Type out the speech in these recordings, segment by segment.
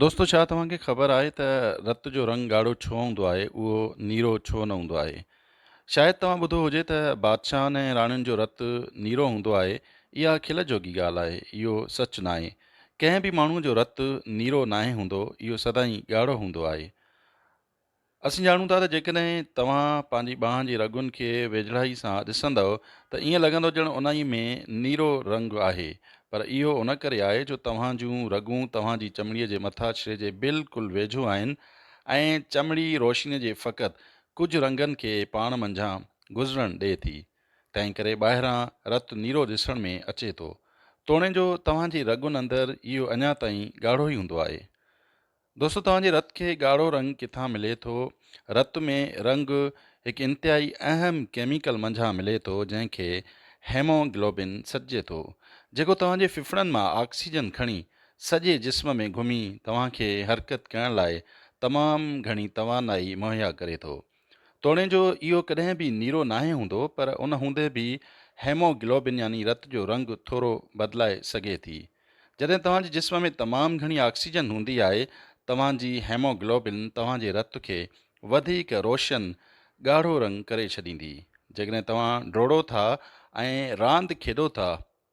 دوستو ڇا توهان کي خبر آهي ته رت جو رنگ ڳاڙهو ڇو هوندو آهي اهو نيرو ڇو نه هوندو آهي شايد توهان ٻڌو هجي ته بادشاهن ۽ راڻين جو رت نيرو هوندو آهي اها کل جوڳي ڳالهه آهي اهو سچ ناهي ڪنهن به ماڻهو جو رت نيرو ناهي هوندو اهو سدائين ڳاڙهو هوندو آهي اسين ڄاڻون ٿا ته جيڪڏهن توهان پنهنجي ٻانهن جي رڳن کي ويجهڙائي سان ڏسندؤ ته ائين لڳندو ڄڻ انهي ۾ نيرو رنگ آهي پر اهو ان ڪري آهي جو توهان جون رڳون توهان جي چمڙي جي مٿاڇري جي بلڪل ويجهو آهن ۽ چمڙي روشني جي فقط ڪجهه رنگن کي پاڻ منجهان گذرڻ ڏئي ٿي تنهنڪري ٻاهران رت نيرو ڏسڻ ۾ اچي ٿو توڻي جو توهان جي رڳن اندر اهو اڃا تائين ڳاڙهو ئي هوندو آهي دوستو توهان جي رت کي ڳاڙهو رنگ ڪٿان ملي ٿو؟ رت ۾ رنگ هڪ انتهائي اهم ڪيميڪل منجهان ملي ٿو جنهن کي هيموگلوبن سڏجي ٿو جيڪو توهان جي ڦڦڙن مان آڪسيجن کڻي سڄي جسم ۾ گهمي توهان کي حرڪت ڪرڻ لاء تمام گهڻي توانائي مهيا ڪري ٿو توڻي جو اهو ڪڏهن به نيرو ناهي هوندو پر ان هوندي به هيموگلوبن يعني رت جو رنگ ٿورو بدلائي سگهي ٿي جڏهن توهان جي جسم ۾ تمام گهڻي آڪسيجن هوندي آهي، توهان جي هيموگلوبن توهان جي رت کي وڌيڪ روشن، ڳاڙهو رنگ ڪري ڇڏيندي. جيڪڏهن توهان ڊوڙو ٿا ۽ راند کيڏو ٿا،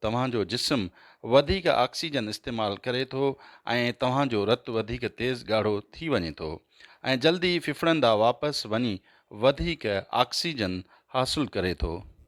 توهان جو جسم وڌيڪ آڪسيجن استعمال ڪري ٿو ۽ توهان جو رت وڌيڪ تيز ڳاڙهو ٿي وڃي ٿو ۽ جلدي ڦڦڙندا واپس وڃي وڌيڪ آڪسيجن حاصل ڪري ٿو.